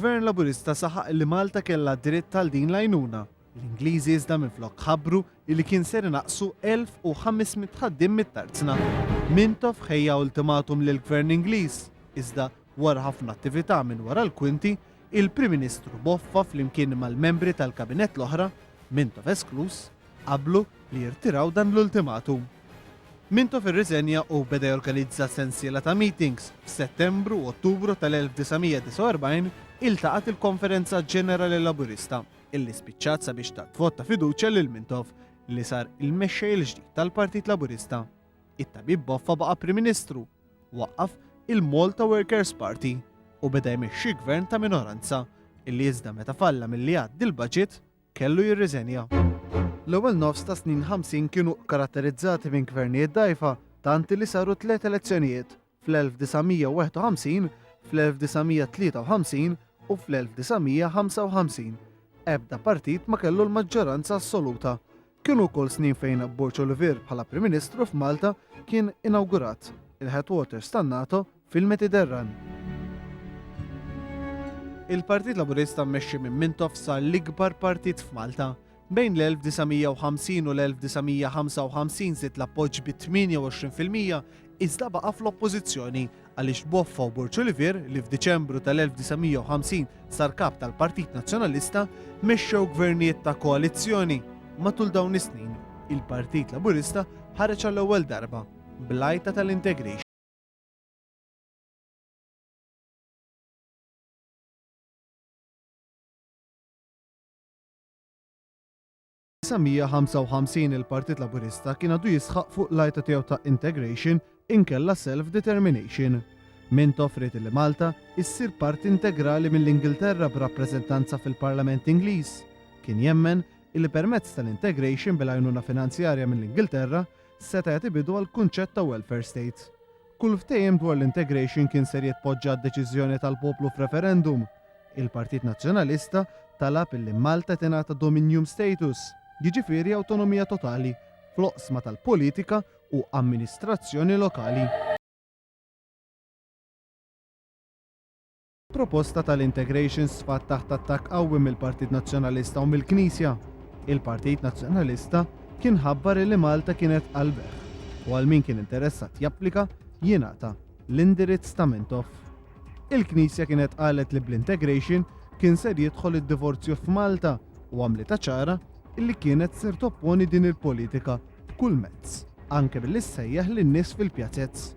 Gvern Laburista saħaq li Malta kellha dritt għal din l-għajnuna. L-Ingliżi iżda minflok ħabbru li kien ser naqsu 1500 ħaddim mit-tarzna. Mintoff ħejja ultimatum lill-Gvern Ingliż, iżda wara ħafna attività minn wara l-kwinti, Il-Prim Ministru Boffa flimkien mal-membri tal-Kabinett l-oħra, Mintoff eskluż, qablu li jirtiraw dan l-ultimatum. Mintoff irriżenja u beda jorganizza sensiela ta' meetings, f'Settembru u Ottubru tal-1949 iltaqgħet il-Konferenza Ġenerali Laburista, illi spiċċat sabiex tat vot ta' fiduċja lil Mintoff li sar il-mexxej il-ġdid tal-Partit Laburista. It-Tabib Boffa baqa' Prim Ministru. waqqaf il-Malta Workers Party u beda jmexxi gvern ta' minoranza illi iżda meta falla milli jgħaddi l-baġit kellu jirriżenja. L-ewwel nofs tas-snin 50 kienu karatterizzati minn gvernijiet dgħajfa tant illi saru tliet elezzjonijiet, fl-1951, fl-1953 u fl-1955. Ebda partit ma kellu l-maġġoranza assoluta. Kienu wkoll snin fejn Borg Olivier bħala Prim Ministru f'Malta kien inawgurat il-headquarters tan-NATO fil-Mediterran. Il-Partit Laburista mmexxi minn Mintoff sar l-ikbar partit f'Malta. Bejn l-1950 u l-1955 żied l-appoġġ bi 28% iżda baqa' fl-Oppożizzjoni għaliex Boffa u Borċulivier, li f'Diċembru tal-1950 sar Kap tal-Partit Nazzjonalista, mexxew gvernijiet ta' koalizzjoni. Matul dawn is-snin, il-Partit Laburista ħareġ għall-ewwel darba bl-għajta tal-integration. 1955 il-Partit Laburista kien għadu jisħaq fuq l-għajta tiegħu ta' integration inkella self-determination. Mintoff ried li Malta issir parti integrali mill-Ingilterra b'rappreżentanza fil-Parlament Ingliż. Kien jemmen illi permezz tal-integration bil-għajnuna finanzjarja mill-Ingilterra seta' jagħti bidu għall-kunċett ta' welfare state. Kull ftehim dwar l-integration kien ser jitpoġġa għad-deċiżjoni tal-poplu f'referendum. Il-Partit Nazzjonalista talab illi Malta tingħata dominium status, jiġifieri awtonomija totali, fl-oqsma tal-politika u amministrazzjoni lokali. Proposta tal-integrations sfat taħt attakk qawwi mill-Partit Nazzjonalista u mill-Knisja. Il-Partit Nazzjonalista kien ħabbar li Malta kienet qalbh u għal min kien interessat japplika jingħata l-indirizz ta' Mintoff. Il-Knisja kienet qalet li bl-integration kien ser jidħol id-divorzju f'Malta u għamlitha ċara illi kienet ser topponi din il-politika b'kull mezz, anke billi ssejjaħ lin-nies fil-pjazez.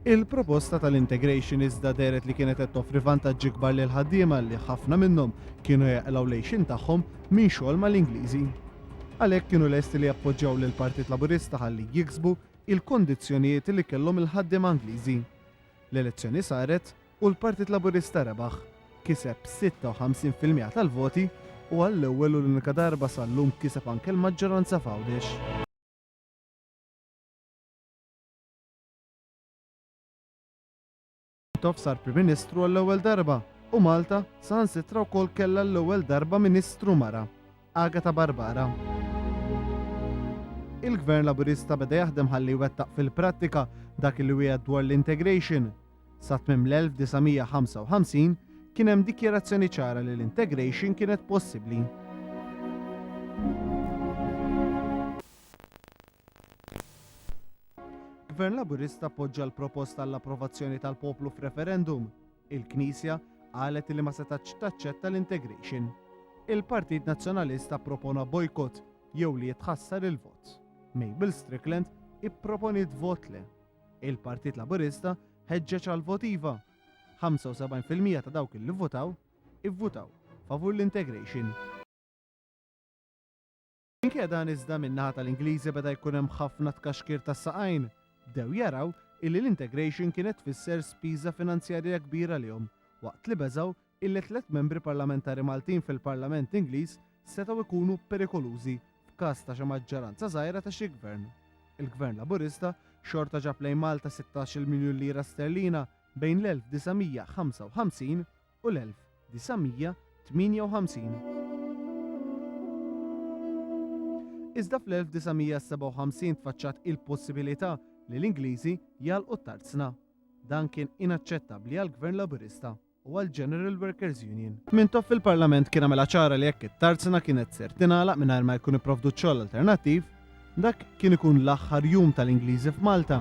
Il-proposta tal-integration iżda dehret li kienet qed toffri vantaġġi kbar lill-ħaddiema li ħafna minnhom kienu jeqlgħu l-għixien tagħhom minn xogħol mal-Ingliżi. Għalhekk kienu lesti li jappoġġjaw lill-Partit Laburista ħalli jiksbu il-kondizzjonijiet li kellhom il-ħaddiema Ingliżi. L-elezzjoni saret u l-Partit Laburista rebaħ. Kiseb 56 fil-miegħa tal-voti u għall-ewwel u l-unika darba sal-lum kiseb anke l-maġġoranza f'Għawdex. Tov sar Prim Ministru għall-ewwel darba u Malta saħansitra wkoll kellha l-ewwel darba Ministru mara, Agata Barbara. Il-Gvern Laburista beda jaħdem ħalli jwettaq fil-prattika dak li wieħed dwar l-integration. Sa tmiem l-1955 kien hemm dikjerazzjoni ċara li l-integration kienet possibbli. Gvern Laburista appoġġa l-proposta għall-approvazzjoni tal-poplu f'referendum. Il-Knisja qalet li ma setax taċċetta l-integration. Il-Partit Nazzjonalista ppropona bojkott jew li jitħassar il-vot. Mabel Strickland ipproponiet vot le. Il-Partit Laburista ħeġġeġ għal vot iva. 75% ta' dawk li votaw ivvutaw favur l-integration. Minkejja dan iżda min-naħa tal-Ingliżi beda jkun hemm ħafna tkaxkir tas-saqajn. Bdew jaraw illi l-integration kienet tfisser spiża finanzjarija kbira għalihom, waqt li beżgħu illi tliet membri parlamentari Maltin fil-Parlament Ingliż setgħu jkunu perikolużi f'każ ta' xi maġġoranza żgħira ta' xi gvern. Il-Gvern Laburista xorta ġab lejn Malta sittax-il miljun lira sterlina bejn l-1955 u l-1958. Iżda fl-1957 tfaċċat il-possibilità li l-Ingliżi jagħlqu t-tarzna. Dan kien inaċċettabbli għall-Gvern Laburista u għall-General Workers Union. Mintoff fil-Parlament kien għamilha ċara li jekk it-tarzna kienet ser tingħalaq mingħajr ma jkun ipprovdut xogħol alternattiv, Dak kien ikun l-aħħar jum tal-Ingliżi f'Malta.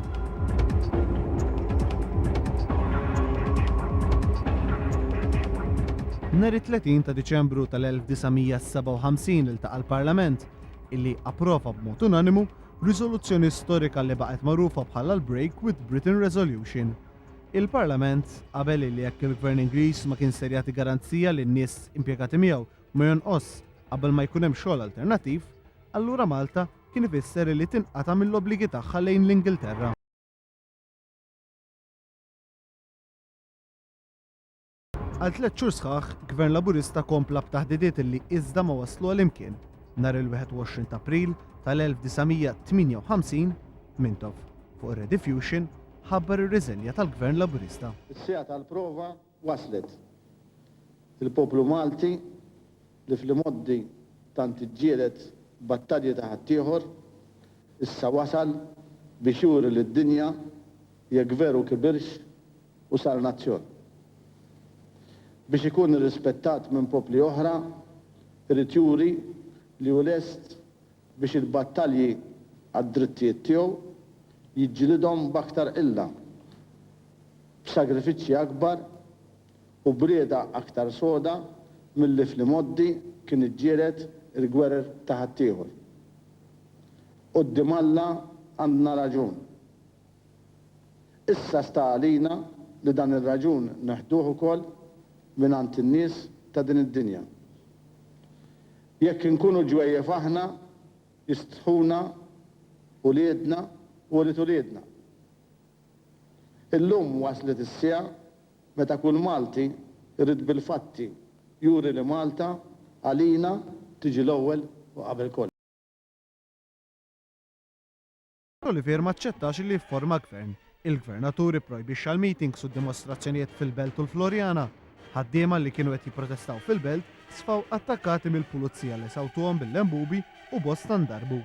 Nhar it-30 ta' Diċembru tal-1957 iltaqa' l-Parlament, illi approva b'mod unanimu riżoluzzjoni storika li baqgħet magħrufa bħala l-Break with Britain Resolution. Il-Parlament qabel illi jekk il-Gvern Ingliż ma kien ser jagħti garanzija lin-nies impjegati miegħu ma jonqosx qabel ma jkun hemm xogħol alternattiv, allura Malta kien ifisser illi tinqata' mill-obbligi tagħha lejn l-Ingilterra. Għal tliet xhur sħaħ, Gvern Laburista kompla b'taħdidiet illi iżda ma waslu għal imkien. Nhar il-21 t'April tal-1958, Mintoff, fuq ir-Rediffusion, ħabbar ir-riżenja tal-Gvern Laburista. Is-siegħa tal-prova waslet. Il-poplu Malti li fl-imgħoddi tant iġġieled battalji ta' ħaddieħor, issa wasal biex juri lid-dinja jekk veru kibirx u sar nazzjon. Biex ikun irrispettat minn popli oħra, irid juri li hu lest biex il-battalji għad-drittijiet tiegħu jiġġilidhom b'aktar qilla, b'sagrifiċċji akbar u b'rieda aktar soda milli fl-imgħoddi kien iġġieled il-gwerer ta' ħaddieħor. Quddiem Alla għandna raġun. Issa sta għalina li dan ir-raġun neħduh ukoll mingħand in-nies ta' din id-dinja. Jekk inkunu ġwejjef aħna, jistħuna uliedna u ulied uliedna. Illum waslet is-siegħa meta kull Malti jrid bil-fatti juri li Malta għalina tiġi l-ewwel u qabel kollox. Olivier ma aċċettax li jifforma gvern. Il-Gvernatur ipprojbixxa l-meetings u d-dimostrazzjonijiet fil-Belt u l-Floriana. Ħaddiema li kienu qed jipprotestaw fil-Belt sfaw attakkati mill-Pulizija li sawtuhom bil-lembubi u bosta ndarbu.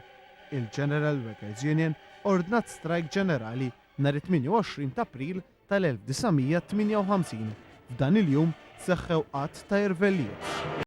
Il-General Workers Union ordnat strajk ġenerali nhar it-28 t'April tal-1958. F'dan il-jum seħħew għadd ta' irvellijiet.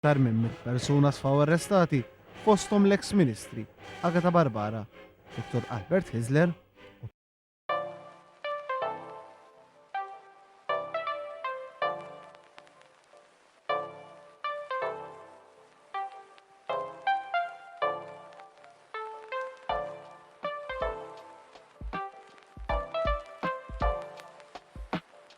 Aktar minn mitt persuna sfaw arrestati fosthom l-eks ministri Agata Barbara, Dottor Albert Hyzler u.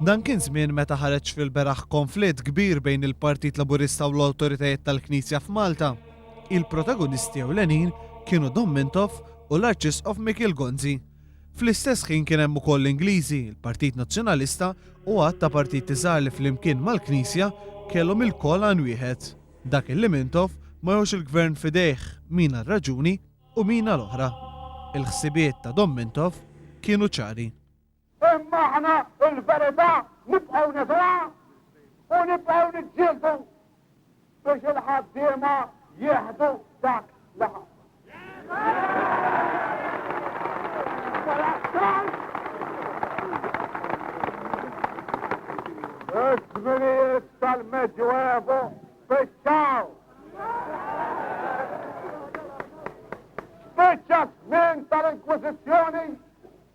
Dan kien żmien meta ħareġ fil-beraħ konflitt kbir bejn il-Partit Laburista u l-awtoritajiet tal-Knisja f'Malta. Il-protagonisti ewlenin kienu Dom Mintoff u l-Arċisqof Mikiel Gonzi. Fl-istess ħin kien hemm ukoll l-Ingliżi, il-Partit Nazzjonalista u għadd ta' partiti żgħar li flimkien mal-Knisja kellhom ilkoll għan wieħed, dak illi mintof ma jħoss il-Gvern f'idejh min għal raġuni u min għal oħra. Il-ħsibiet ta' Dom Mintoff kienu ċari. Imma aħna l-verità nibqgħu nidhruha u nibqgħu niġġieldu biex il-ħaddiema jieħdu dak li ħadd. Iż-żminijiet tal-Medjuevu spiċċaw. Spiċċa żmien tal-Inkwiżizzjoni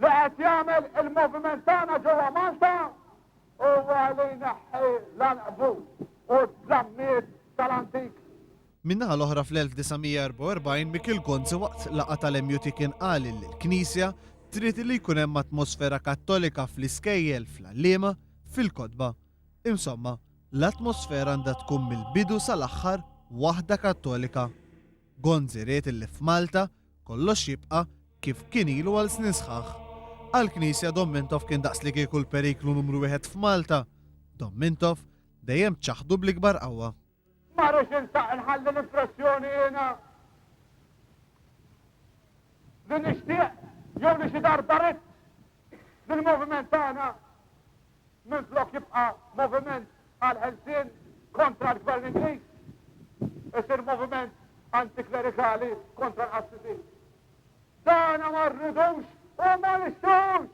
Li qed jagħmel il-moviment tagħna ġewwa Malta huwa li jneħħi l-għanqbut u d-dlammiet tal-antik. Min-naħa l-oħra fl-1944 Mikiel Gonzi waqt laqgħa tal-MUT kien qal illi l-Knisja trid li jkun hemm atmosfera Kattolika fl-iskejjel, fl-għalliema, fil-kotba. Insomma, l-atmosfera għandha tkun mill-bidu sal-aħħar waħda Kattolika. Gonzi ried illi f'Malta Kollox jibqa' kif kien ilu għal snin sħaħ. Għall-Knisja Dom Mintoff kien daqslikieku l-periklu numru wieħed f'Malta. Dom Mintoff dejjem ċaħdu bl-ikbar qawwa. Ma rridx insaq inħalli l-impressjoni jiena li nixtieq jew li xi darba ridt li l-moviment tagħna Minflok jibqa' moviment għall-ħelsien kontra l-Gvern Ingliż, isir moviment antiklerikali kontra l-qassisin. Dana ma rridux u ma nixtux!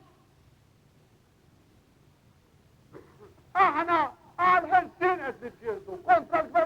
Aħna għal ħelsin qed niġġieldu kontra l-gvern